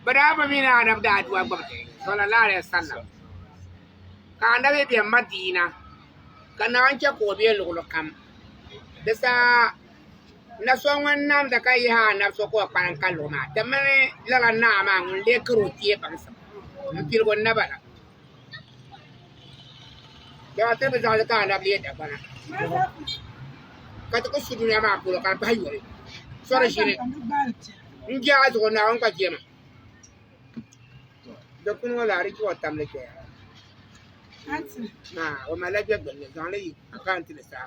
Bɛ daa bi mi ni Anabi daa dua gbubi ti, sallallahu alaihi wasallam, ka Anabi be Madina, ka Naa chɛ ka o be luɣili kam. Di saha na so ŋun namda ka yihi Anabi so ka o kpalim ka luɣi maa, ti mini lala Naa maa ŋun lee kari o kpee baŋsim m-piligi o naba la. Dama ti bi zaŋ li ka anabi leei dagbana ka ti ku su dunia maa polo ka di bahi yoli sori ʒini n jɛ a zuɣu Naawuni gba jɛma dikpuni ŋɔ laa di chɛ o tamli chɛya maa o malila jɛgbunni zaŋli yi akaant ni saha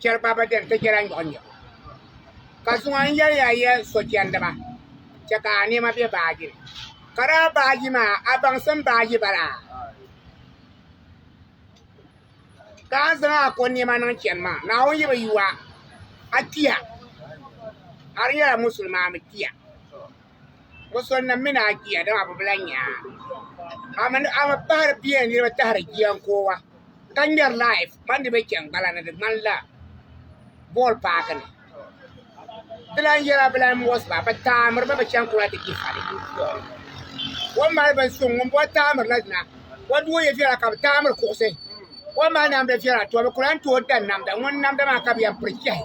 chɛri ba bɛ dini ti nyɛla nyɔɣu nyɔɣu. Ka zuŋɔ n yɛli ya ya sochɛndiba chɛ ka a nɛma be baaji ni. Ka daa baaji maa a baŋsim baaji bala? Ka a ni zaŋ a ko nɛma niŋ chani maa Naawuni yi bi yu a, a kpiya. A di nyɛla musulmaa mi kpiya. Bɛ sɔnnim mini a jia, dama bɛ bi lan nya a. Amin a mi pahiri pia ni niriba tahiri jia n-koowa, ka ŋmɛri laif mani di be chɛŋgbala ni di ŋmanila bɔl paaki ni. Ti lan yɛla bɛ lan mɔɣis ba, bɛ taamir mi bɛ chaŋ kula ti ji sali. O ni mali binsuŋ ŋun bɔri taamir la dina, o duo yi viɛla ka bɛ taamir kuɣisi. O ni mali namda viɛla tɔbu, bɛ ku lan tooi dan namda, ŋun namda maa ka bɛ yɛn piri chɛhi.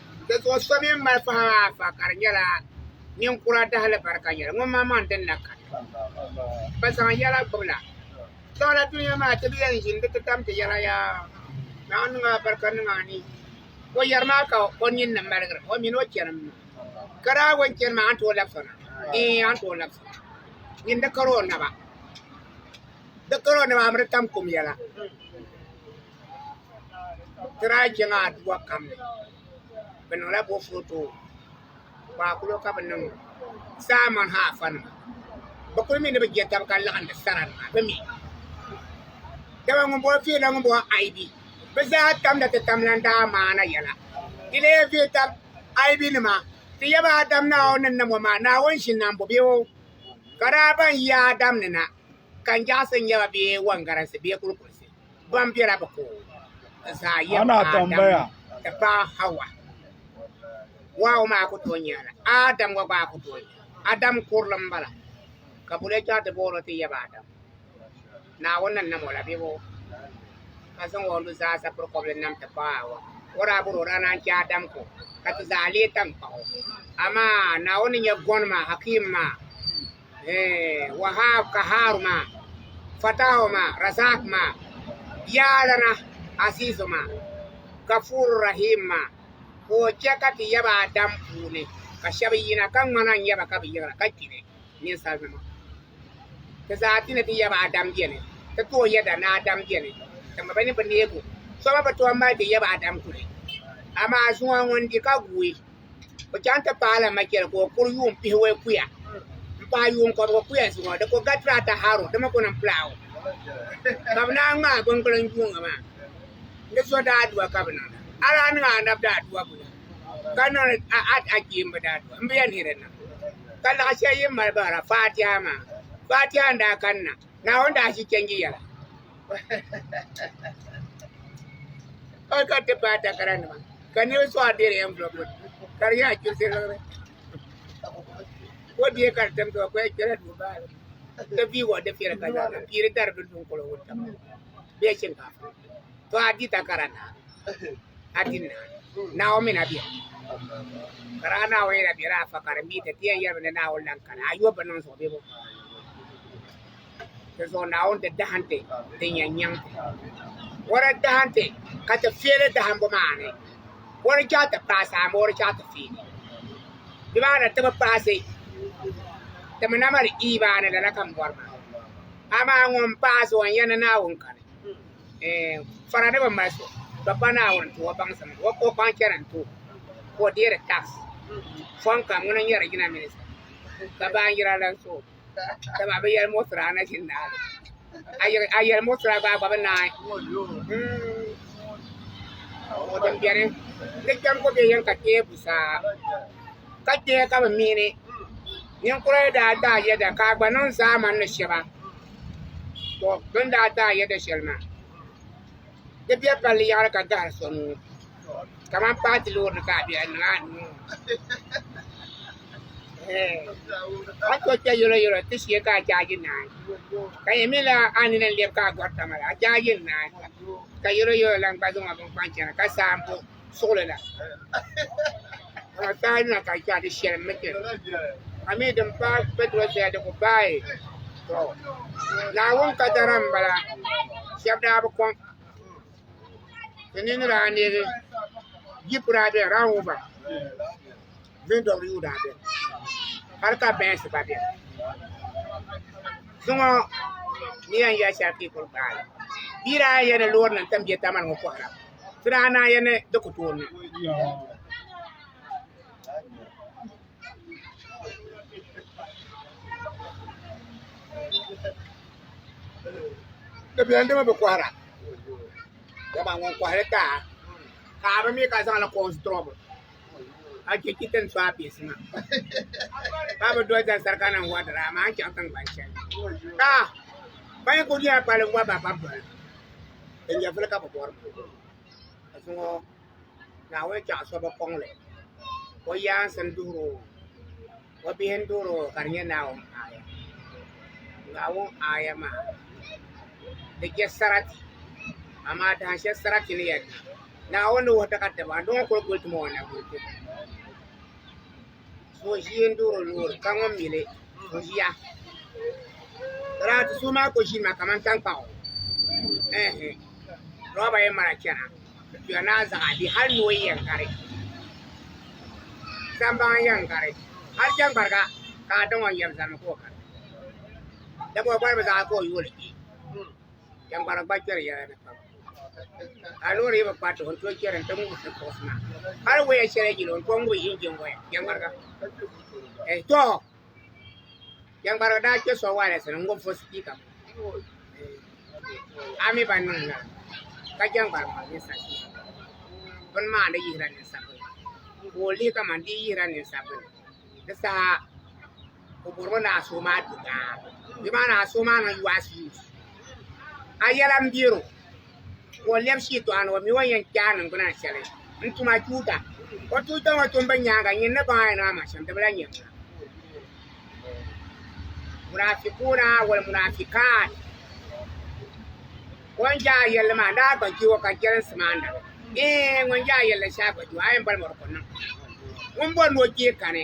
Dinzuɣu so mini malifaha afa ka di nyɛla ninkura dahilibarika yɛli ŋunmaŋmaŋ din na kani. Bɛ zaŋ yɛla gbibi la. Dawla dunia maa ti bi yɛn ʒini di ti tam ti yɛla yaa Naa niŋ a barika niŋ a ni o yɛri maa ka o nini ni maligiri o mini o chɛnim maa. Ka daa wo n-chani maa a ni tooi labisa na? Ɛɛn, a ni tooi labisa. Nyin di kari o naba. Di kari o naba a mi di tam kum yɛla. Bɛ ti daa chɛ ŋa Adua kam ni, bɛ niŋla boofurooto kpaakulo ka bɛ niŋ Saamɔn ha afanima. Bɛ kul mi ni bɛ je tab ka laɣindi saranima bɛ mi. Dama ŋun bɔhi Fee la ŋun bɔhi Aibi, bɛ zaa tamda ti tam lan daa maana yɛla. Di leei Fee tab Aibinima, Ti yaba Adam ni a o ni nam o maa, Naawuni ʒinnambɔ bee o ka daa baŋ yi Adam ni na ka n jɛɣisi n-nyɛ ba bee wɔngarinsi bee kulikuɣisi. Gbambiɛra bi ku ka zaa yɛm Adam ti paai Hawa. Wahu maa ku tooi nyɛla la, Adam gba gbaai ku tooi nyɛla. Adam kurili m-bala, ka buli yi chaŋ ti booni o ti yɛm Adam, Naawuni ni nam o la biɛbo ka zaŋ o nuzaa sapiri kɔbili nam ti paai Hawa. O daa bɔri o daa naan chɛ Adam ku ka ti zaa leei taŋkpaɣu. Amaa Naawuni ni nyɛ gɔnima, Hakim, maa. Wahab, Kaharu ma, Fatahu ma, Razak ma, Ya Allana, Azizu ma, Gafuru Rahim ma, ka o chɛ ka ti yaba Adam puuni, ka shɛba yina, ka ŋmana n-nyɛ ba ka bɛ yiɣiri ka kpini, ninsalinima. Ti zaati ni ti yaba Adam beni, ti tooi yɛda ni Adam beni, dama bɛ ni bi neeg o. Soma bi tooi mali ti yaba Adam kuli, amaa zuŋɔ ŋun di ka guui. O chaŋ ti paai la machɛli ka o kuri yuun pihiwei kuya m-paai yuun kɔbigu kuya zuɣu. Di ku ga Tirata Haro, di mi ku niŋ Pulaawu. Ka bɛ naan ŋmaai biŋkuli n-yuuŋ a maa. Di zo daadua ka bɛ niŋ li. A daa niŋ a nab daadua buni ka niŋ li a kpeemba daadua? M bi yɛn hiri n-niŋ. Ka laɣ shɛli yi ni mali bahira Faatiha maa. Faatiha n-daa kanna. Naawuni daa ʒi chanji yɛla ka ka ti paai takara nima ka niriba sɔɣa bɛ di envelope ka di yɛn chibisi liɣiri ko bie ka di tim tɔɔ ko ya kpɛla duu baali ti pii wɔɣi di fɛri ka zaɣa piiri dari bi dunkolo wuntama bee shinkaafa. to a di takara na a di na naawuni na biɛ ka daa naawuni na biɛ daa fa ka di mi ti tiɛ yɛrimi ni naawuni lan kana a yɔbbi niŋ zuɣu bebo di zuɣu naawuni ti dahinti ti nyɛ nyaŋ wara dahinti ka ti fiɛli dahinbu maa ni wari chɛɣu ti paasi amaa wari chɛɣu ti fiɛli di maa na ti bi paasi ti mi na mali iimaani lala ka m bɔri maa amaa ŋun paasi o n yɛn ni naawuni kani eh, fara ni bi mali so Dɔkpa Naawuni ti o baŋsim o o kpaŋ chɛri n-ti o ka o deeri tax fɔŋ kam ŋuna n-nyɛ di yina minista ka baanjira lan so dama a bi yɛli muɣisira a na ʒi naali a yɛli a yɛli muɣisira gba a gba bi naai Mm. o din beni ni kpɛm ko be yɛn ka teebu saa ka kpɛ ka bi mihini ninkura yɛn daa daa yɛda ka a gba niŋ zaamani ni shɛba to bi ni daa daa yɛda shɛli maa di bɛ palli yaɣali ka gahiri so nuu kamani paati loori ni ka a bɛ a niŋ a nuu ŋɔ a to kpɛ yolo yolo ti shee ka a jaaji naai ka yɛn mi la a nini n lɛbi ka a gɔrita mali a jaaji naai ka yolo yolo lan gba zaŋ o bini kpaŋ chana ka saambo. suɣili la ka na taai na ka chɛ di shɛli mi kpɛ a mi din paai kpɛtiro zaya di ku baai to Naawuni kadara m-bala shɛba daa bi kɔŋ ti nini daa neegi jip daa beni Land Rover VW daa beni hali ka Benz gba beni zuŋɔ ni yɛn yɛli shɛli ka yi kuli gbaai li bia daa yɛn ni loori nim tam jɛtaamani ŋɔ kɔhira ti daa naa ya ni di ku tooi niŋ. Di beni dama bi kɔhira. Dama ŋun kɔhiri ka ka a bi mi ka zaŋ li kɔhi sitirɔbu. A je chi ti ni so a piisi maa. Ka bi doli zani sarika nim wa dira amaa n chaŋ tiŋgbani shɛli. Ka ban yi ku nyɛla kpalim wa ba ka bi doli. Di nyɛvili ka bɛ bɔri ka zuŋɔ Naawuni chaɣ so bi kɔŋ li, o yaansi n-duhir o, o bihi n-duhir o ka di nyɛ Naawuni aaya. Naawuni aaya maa di je sarati, amaa dahin shɛli sarati ni yɛn niŋ, Naawuni ni wuhi ti ka tiba n-di ŋɔ kul guli ti ma o nabihi kum. ka o ʒiya n-duɣiri o loori ka ŋun mi li ka o ʒiya lala ti so maa ka o ʒiya maa kamani taŋkpaɣu ɛɛh loba yɛn mali chana di tuya ni a zaɣ a bihi hali noo yɛn gari sambaŋ yɛn gari hali jɛmbariga ka a daŋ o yɛm zani mi ka o gari dama o gari mi zaa ka o yooli kpi jɛmbarigi gba kpɛri yɛla ni kpam a loori yi bi kpa ti o n-tooi chɛri n-ti ŋubi ti kuɣusi maa hali waya shɛli yili o n-tooi ŋubi injin waya jɛŋmariga eh, to jɛŋmariga daa kpe sɔŋ waalɛsi ni n-ŋubi fo sipiika a mi ba niŋ lala ka jɛŋgbari maa ninsali bini maa ni yihira ninsabila ka o lihi kamani di yi yihira ninsabila di saha o bɔrimi ni a suhu maa di daa di maa ni a suhu maa niŋ US US a yɛla n biɛro ka o lɛbi shitɔɣu ni o mi o yɛn kpɛ a niŋgbuna shɛli n tuma tuuta o tuuta ŋɔ tumbu nyaanga nyin ni baŋ a yɛn ama shɛm di bi la nyɛ ŋuna munafikuna wal munafikat ŋun jɛ a yɛlli maa daa gba jɛ o ka jɛlinsi maa na ee ŋun jɛ a yɛlli shɛli gba jɛ o a yɛn bɔli mɔri ko niŋ ŋun bɔri ni o kpee kani